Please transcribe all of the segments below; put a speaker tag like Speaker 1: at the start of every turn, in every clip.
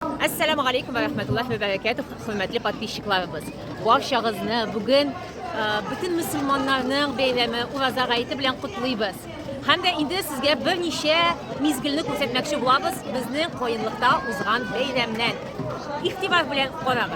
Speaker 1: Әссәламу алейкум ва рахмәтуллаһи ва бәрәкәтүх, хөрмәтле подписчикларыбыз. Барчагызны бүген бөтен мөселманнарның бәйрәме Ураза гаете белән котлыйбыз. Һәм дә инде сезгә берничә мизгелне күрсәтмәкче булабыз безнең каенлыкта узган бәйрәмнән. Игътибар белән карагыз.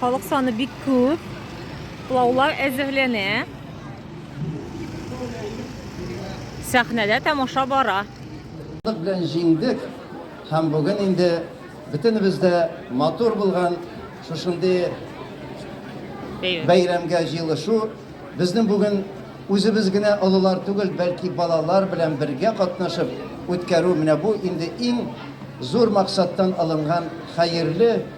Speaker 1: Халык саны бик күп. Плаулар әзерләнә. Сәхнәдә тамаша бара. Белән
Speaker 2: җиңдек һәм бүген инде бөтенебез дә матур булган шушындый бәйрәмгә җыелышу безнең бүген Үзебез генә олылар түгел, бәлки балалар белән бергә катнашып үткәрү менә бу инде иң зур максаттан алынган хәерле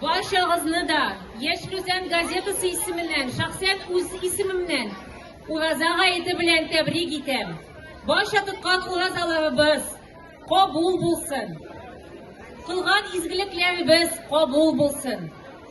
Speaker 1: Барчагызны да Яшь Рүзән газетасы исеменнән, шәхсән үз исемемнән Ураза гаете белән тәбрик итәм. Барча тоткан уразаларыбыз кабул булсын. Кылган изгелекләребез кабул булсын.